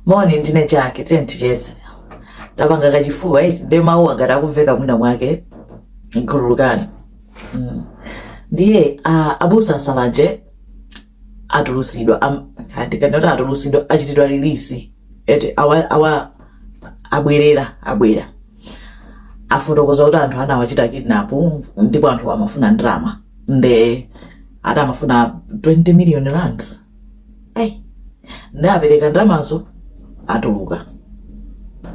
moni ndine chake tiyeni ticheze tapanga kachifuwa eti nde mawu angati akumveka mwina mwake nkhululukani Mm. ndiye ah, abusa asalanje atulusidwa am- ndikanena kuti atulusidwa achitidwa release eti awa, awa abwerera abwera afotokoza kuti anthu anawachita kidnap ndipo anthu amafuna ndalama nde ati amafuna 20 million rands ayi nde apereka ndamazo atuluka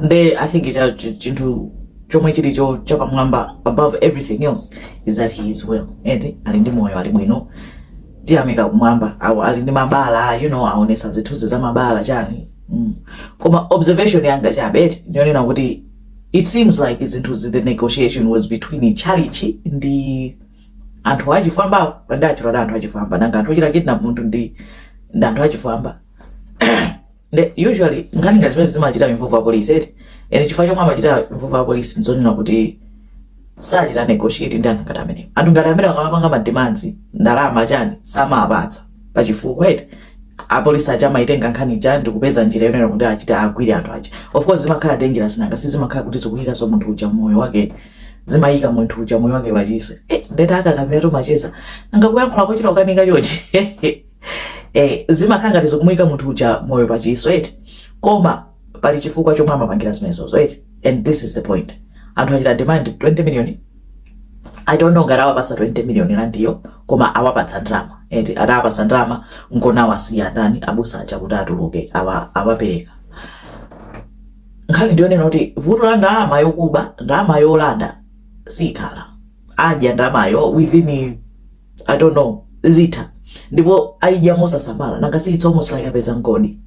nde i think cha- chi- chinthu chomwe chili cho chapamwamba above everything else is that he is well and ali ndi moyo ali bwino tiyamika kumwamba awo ali ndi mabala you know aonesa zithunzi za mabala chani mm. koma observation yanga chabeti ndi yonena kuti it seems like zinthuzi the negotiation was between chalichi ndi anthu achifwambawo ndawatchula anthu achifwamba nanga anthu ochita kidnap munthu ndi ndi anthu achifwamba the usually nkhani ngati zimenezi zimachita involve a polisi eti ene chifukwa chomwe amachita involve a polisi nzonena kuti sachita negotiate ndi anthu ngati amenewo anthu ngati amenewo akamapanga mademands ndalama chani samawapatsa pachifukwa eti apolisi aja amaitenga nkhani ija ndi kupeza njira yonena kuti achite agwire anthu aja of course zimakhala dangerous nanga sizimakhala kuti zikuyikaso munthu uja moyo wake zimayika munthu uja moyo wake pachiswe eh, nde takakamiratu macheza nanga kuyankhula kochita kukanika chonchi eh, zimakhala ngati zikumuyika munthu uja moyo pachiswe eti koma pali chifukwa chomwe amapangira zimenezozo eti and this is the point anthu achita demand 20 million i don't know ngati awapasa 20 million randiyo koma awapatsa ndalama eti atawapasa ndalama nkona awasiya ndani abusa aja kuti atuluke awa- awapereka nkhani ndiyonena kuti vuto la ndalama yokuba ndalama yolanda sikhala adya ndalamayo within i don't know zitha ndipo ayidya mosasamala nanga si it's almost like apeza mgodi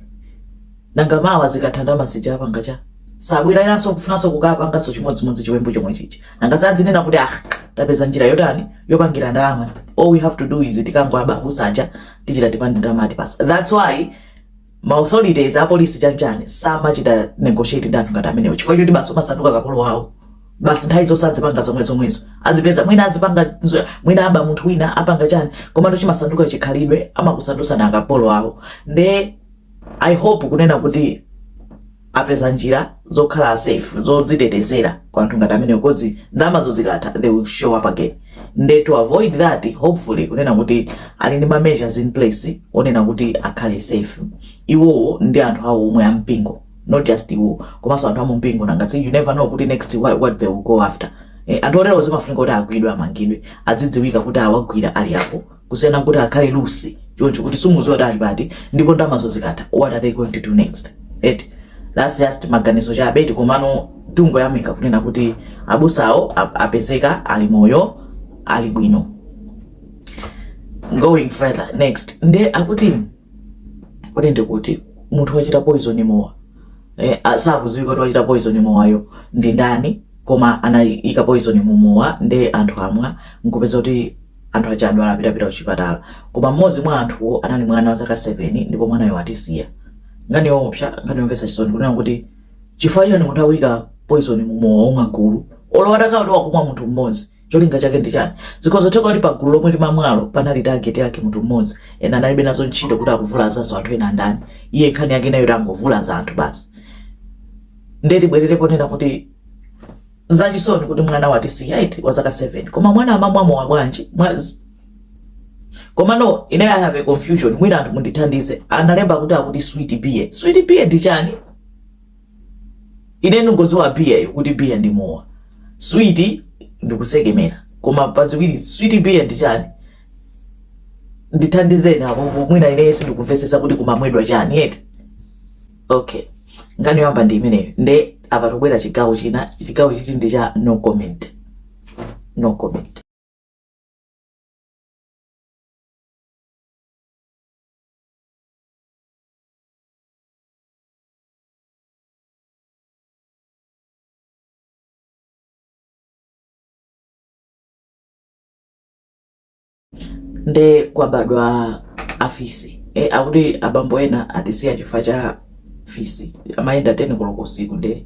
nanga mawa zikatha ndalama zija apanga chani sabwereranso kufunanso kukapanganso chimodzimodzi chiwembu chomwe chichi nanga sadzinena kuti ah tapeza njira yotani yopangira ndalama all we have to do is tikangowaba abusa aja tichita demand ndalama atipasa that's why ma authorities a police chanchani samachita negotiate ndi anthu ngati amenewo chifukwa choti basi umasanduka kapolo wawo basi nthawi zonse adzipanga zomwezomwezo azipeza mwina azipanga nzo- mwina aba munthu wina apanga chani komatu chimasanduka chikhalidwe amakusandusa na akapolo awo nde i hope kunena kuti apeza njira zokhala safe zodzitetezera kwa anthu ngati amenewo cause ndalamazo zikatha they will show up again nde to avoid that hopefully kunena kuti ali ndi ma measures in place onena kuti akhale safe iwowo ndi anthu awo omwe ampingo not just iwo komanso anthu amumpingo nanga si you never know kuti next what, what they will go after eh, anthu oterewo zimafunika kuti agwidwe amangidwe adzidziwika kuti awagwira ali apo kusiyana nkuti akhale lusi choncho kuti simuziwa kuti ali pati ndipo ndalamazo zikatha what are they going to do next eti that's just maganizo chabe eti komano tungoyamika kunena kuti abusawo ap- apezeka ali moyo ali bwino going further next nde akuti kuti ndikuti munthu wachita poison mowa eh, a- sakuziwika kuti wachita poison mowayo ndi ndani koma anayika poison mu mowa nde anthu amwa nkupeza kuti Anthu aja adwala apita kuchipatala koma m'modzi mwa anthuwo anali mwana wa zaka 7 ndipo mwanayo watisiya. Nkhani yoopsa, nkhani yomvetsa chisoni kunena kuti chifukwa chani munthu akuika poison mu mowa omwa gulu olo atakhala kuti wakumwa munthu m'modzi cholinga chake ndi chani? Zikhoza kutheka kuti pagulu lomwe limamwalo panali target yake munthu m'modzi and analibe nazo ntchito kuti akuvulazanso anthu ena ndani, iye nkhani yake inali yoti angovulaza anthu basi. Nde tibwerere ponena kuti. Zachisoni kuti mwana watisiya eti wa zaka 7 koma mwana amamwa mowa bwanji? Mwa- z- Komano, ine I have a confusion. Mwina anthu mundithandize. Analemba kuti akuti sweet beer. Sweet beer ndi chani? Ine ndingoziwa beer yo kuti beer ndi mowa. Sweet ndikusekemera. Koma pa ziwiri sweet beer ndi chani? Ndithandizeni apo mwina ine sindikumvesesa kuti kumamwedwa chani eti. Okay, nkhani yoyamba ndi imeneyo nde apa tikubwera chigawo china chigawo ichi ndi cha no comment no comment nde kwabadwa afisi e, akuti abambo ena atisiya chifukwa cha afisi amayenda 10 koloko usiku nde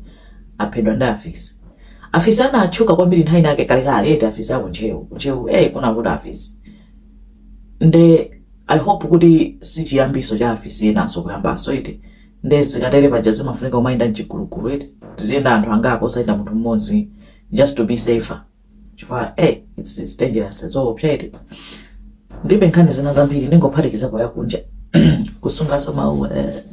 aphedwa ndi afisi afisi anatchuka kwambiri nthawi yake kalekale eti afisi aku ntcheu ntcheu e kunali afisi nde i hope kuti sichiyambinso cha afisi enanso kuyambanso eti nde zikatero paja zimafunika umayenda mchigulugulu eti tiziyenda anthu angapo osayenda munthu mmodzi just to be safer chifukwa hey, it's, it's dangerous zoopsa eti ndilibe nkhani zina zambiri ndingophatikizapo yakunja kusunganso mawu eh,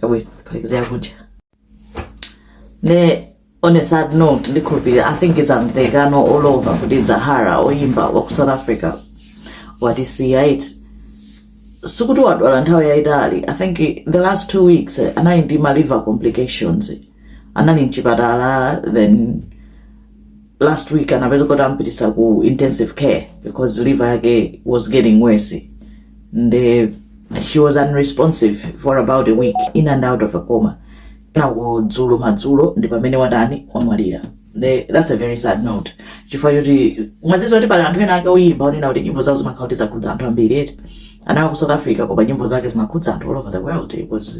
yabwino phatikiza yakunja nde on a sad note ndikhulupirira i think zamvekano all over kuti zahara oyimba wa ku south africa watisiya eti sikuti wadwala nthawi yayitali i think the last two weeks eh, anali ndi ma liver complications anali mchipatala then last week anapeza kuti ampitisa ku intensive care because liver yake was getting worse nde she was unresponsive for about a week in and out of a coma kenako dzulo madzulo ndi pamene watani wamwalira that's a very sad note chifukwa choti mwaziwa kuti pali anthu ena ake oyimba onena kuti nyimbo zawo zimakhala kuti zakhudza anthu ambiri eti anali wa ku south africa koma nyimbo zake zimakhudza anthu all over the world it was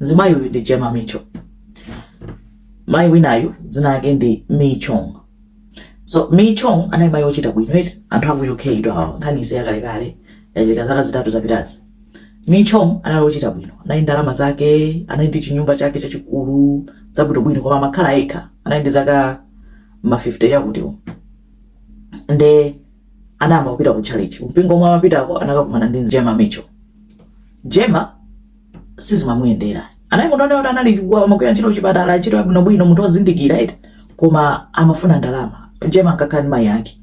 Mzimayi uyu ndi Gemma Mitchell. Mai winayu dzina lake ndi Mi Chong. So Mi Chong anali mai wochita bwino eti anthu aku UK tu awa nkhaniyi si yakale kale yachitika zaka zitatu zapitazi. Mi Chong anali wochita bwino. Anali ndalama zake, anali ndi chinyumba chake chachikulu zabwino bwino koma amakhala yekha. Anali ndi zaka ma 50 yakuti umu. Nde anayamba kupita ku tchalitchi. Mpingo omwe amapitako anakakumana ndi Gemma Mitchell. Gemma sizimamuyendera. Anali munthu onena kuti anali amagwira ntchito kuchipatala, ntchito yabwinobwino, munthu wozindikira eti, koma amafuna ndalama. Gemma ankakhala ndi mayi ake.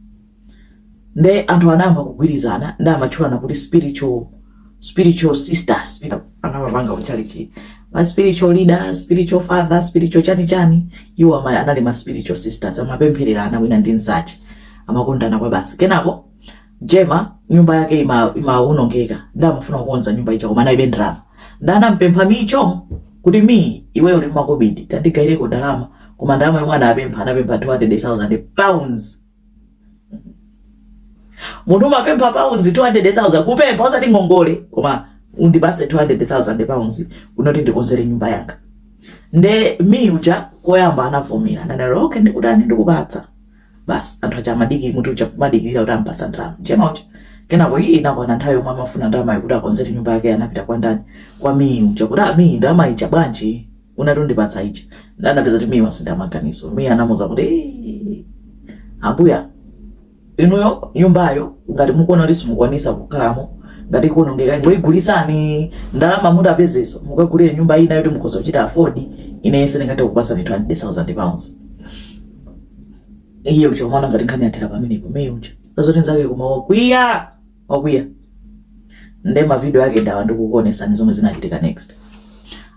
Nde anthu anayamba kugwirizana, nde amatchulana kuti spiritual, spiritual sisters, anawapanga ku tchalitchi. Ma spiritual leader, spiritual father, spiritual chani chani, iwo anali ma spiritual sisters, amapemphererana wina ndi mzache, amakondana kwabasi. Kenako. Gemma nyumba yake ima imaonongeka nde amafuna kukonza nyumba ija koma analibe ndalama nde anampempha mi chong kuti mi iweyo uli makobidi tandigaireko ndalama koma ndalama yomwe anapempha anapempha 200,000 pounds munthu umapempha pounds 200,000 kupempha osati ngongole koma undipase 200,000 pounds kunoti ndikonzere nyumba yanga nde mi uja koyamba anavomera nanena okay ndikutani ndikupatsa basi anthu aja amadikira munthu uja kumadikirira kuti ampasa ndalama gemma uja kenako iyi inakwana nthawi yomwe amafuna ndalamayi kuti akonzere nyumba yake anapita kwa ndani kwa mi uja kuti a mi ndalama ija bwanji unati undipatsa ija anapeza kuti mi wasintha maganizo mi anamuuza kuti "Ee, ambuya inuyo nyumbayo ngati mukuona kuti simukwanisa kukhalamo ngati ikuonongeka ngoigulisani ndalama mutapezezo mukagulire nyumba ina yoti mukhoza kuchita afford ineyo sindingathe kupasani 200,000 pounds iye uja amaona ngati nkhani yathera pamenepo mi uja azoti nzake koma wakwiya wakwiya nde mavidiyo ake ndawa ndikukuonesani zomwe zinachitika next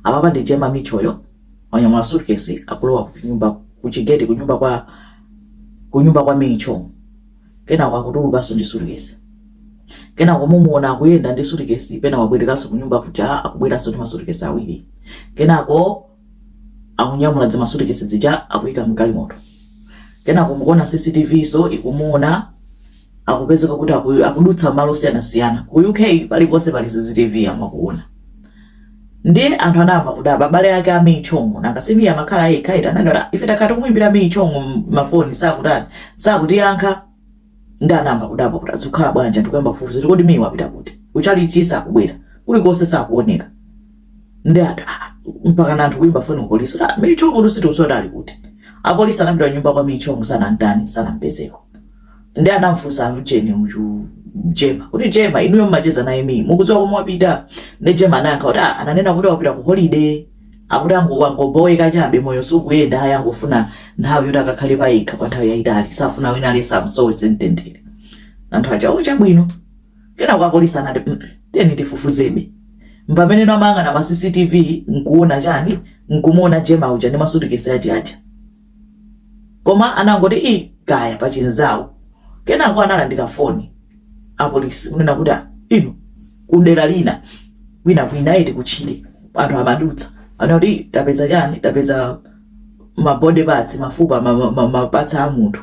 apapa ndi gemma mitchell uyo wanyamula suitcase akulowa kunyumba kuchigeti kunyumba kwa kunyumba kwa mi chong kenako akutulukanso ndi suitcase kenako mumuona akuyenda ndi suitcase pena wabwereranso kunyumba kuja akubweranso ndi masuitcase awiri kenako akunyamula dzimasutikesi dzija akuyika mgalimoto kenako mukuona cctv so ikumuona akupezeka kuti aku, akudutsa malo osiyanasiyana ku uk paliponse pali cctv amakuona ndiye anthu anayamba kudabwa abale ake a Mei Chong nanga si Mee amakhala yekha ati anadabwa ife takhala tikumuimbira Mei Chong mafoni sakutani sakutiyankha Ndiye anayamba kudabwa kuti zikukhala bwanji anthu kuyamba kufufuza kuti kodi Mee wapita kuti? Kuchalichi sakubwera, kulikonse sakuoneka. Ndiye anthu ah, mpakana anthu kuimba foni ku polisi kuti ah, Mei Chong tu sitikudziwa kuti ali kuti. Apolisi anapita kunyumba kwa Mei Chong sanamtani, sanampezeko. Ndiye anamfunsa ujeni uyu Jema kuti Jema inuyo mmacheza naye Mee mukudziwa komwe wapita? Ndiye Jema anayankha kuti ah, ananena kuti wapita ku holiday. Akuti ango wangoboweka chabe moyo sukuyenda ayi angofuna nthawi yoti akakhale payekha kwanthawi yayitali safuna wina aliyense amsowetse mtendere. Anthu aja oh chabwino. Kenako apolisi anati "Mm, tiyeni tifufuzebe. Mpameneno amayang'ana ma CCTV nkuona chani nkumuona Jema uja ndi masutikesi aja. koma anangoti ii kaya pa chinzawo kenako analandira foni apolisi kunena kuti "Ah, inu kudera lina kwina kwina eti kutchire anthu amadutsa anena kuti tapeza chani tapeza mabody parts mafupa ma- ma- ma- maparts a munthu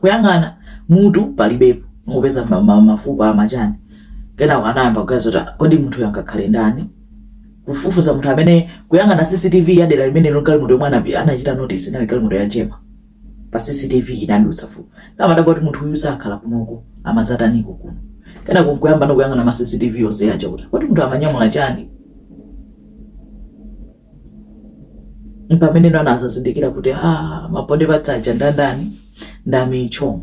kuyang'ana mutu palibepo akupeza ma- ma- mafupa amachani kenako anayamba kuganiza kuti "Ah, kodi munthuyo angakhale ndani kufufuza munthu amene kuyang'ana cctv ya dera limenelo galimoto yomwe anapi- anachita notice inali galimoto ya jema pa cctv inadutsa fu amadabwa kuti munthu uyu sakhala kunoko amadzataniko kuno kenako nkuyamba ndi kuyang'ana ma cctv onse aja kuti kodi munthu amanyamula chani mpamene ndo anadzazindikira kuti ah, mabody parts aja nda ndani nda Mei Chong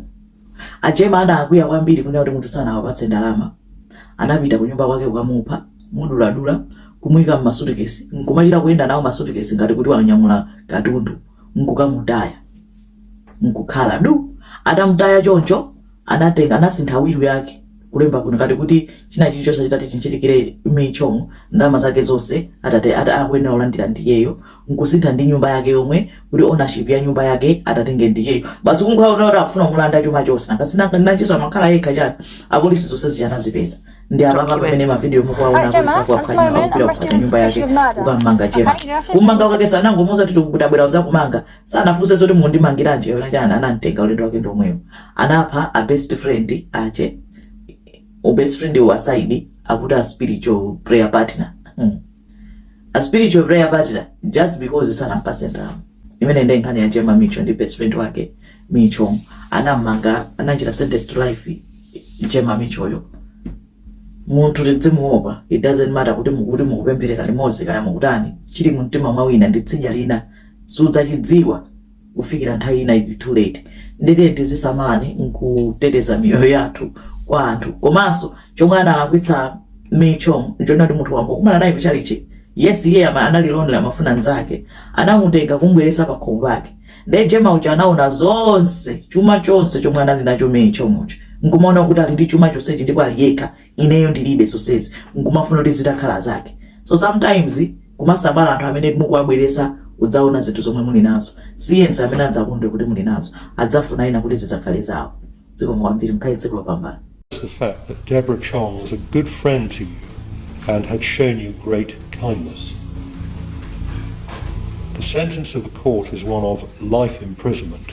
a Jema anakwiya kwambiri kunena kuti munthu sanawapatse ndalama anapita kunyumba kwake kukamupha kumuduladula kumuyika mmasutikesi nkumachita kuyenda nawo masutikesi ngati kuti wanyamula katundu nkukamutaya nkukhala du atamutaya choncho anatenga anasintha will yake kulemba bwino ngati kuti china chilichonse chitati chinchitikire Mei Chong ndalama zake zonse atate- ati akuyenera kulandira ndiyeyo nkusintha ndi nyumba yake yomwe kuti ownership ya nyumba yake atatenge ndiyeyo basi kungokhala kuti kuti akufuna kumulanda chuma chonse nanga si nanga mwinanso amakhala yekha chani apolisi zonse zija anazipeza ndi apapa pamene Documents. mavidiyo mukuwaona Alright, Gemma, apolisi that's my akuwaphwanya man. I'm akugwira kuphwanya arresting you on nyumba yake suspicion of murder. kukamanga jema Okay, you don't have to kumanga kwake sanangomuza iti kuti abwera kudzakumanga Sanafunse zoti mukundimangiranji kapena chani anamtenga ulendo wake ndiomwewo anapha a best friend ache u best friend wu aside akuti a spiritual prayer partner hmm a spiritual prayer partner just because sanampase ndalama imeneyi nde nkhani ya Jemma Mitchell ndi best friend wake Mee Chong anamanga anamchita sentence to life Jemma Mitchell yo munthu tidzimuopa it doesn't matter kuti mukuti mukupempherera limodzi kaya mukutani chili mumtima mwa wina ndi tsidya lina sudzachidziwa kufikira nthawi ina it's too late ndetu tizisamalani nkuteteza miyoyo yathu kwa anthu komanso chomwe analakwitsa Mee Chong nchona ndi munthu wangokumana naye kuchalichi yes iye ama- anali lonely amafuna nzake anamutenga kumubweresa pa khomo pake ndiye Jemma uja anaona zonse chuma chonse chomwe anali nacho Mee Chong uja nkumaona kuti ali ndi chuma chonsechi ndipo ali yekha ineyo ndilibe zonsezi nkumafuna kuti zitakhala zake so sometimes kumasamala anthu amene mukuwabweresa kudzaona zinthu zomwe muli nazo siyense amene adzakondwe kuti muli nazo adzafuna ena kuti zidzakhale zawo zikomo kwambiri mukhale tsiku lopambana the fact that Deborah Chong was a good friend to you and had shown you great kindness. The sentence of the court is one of life imprisonment.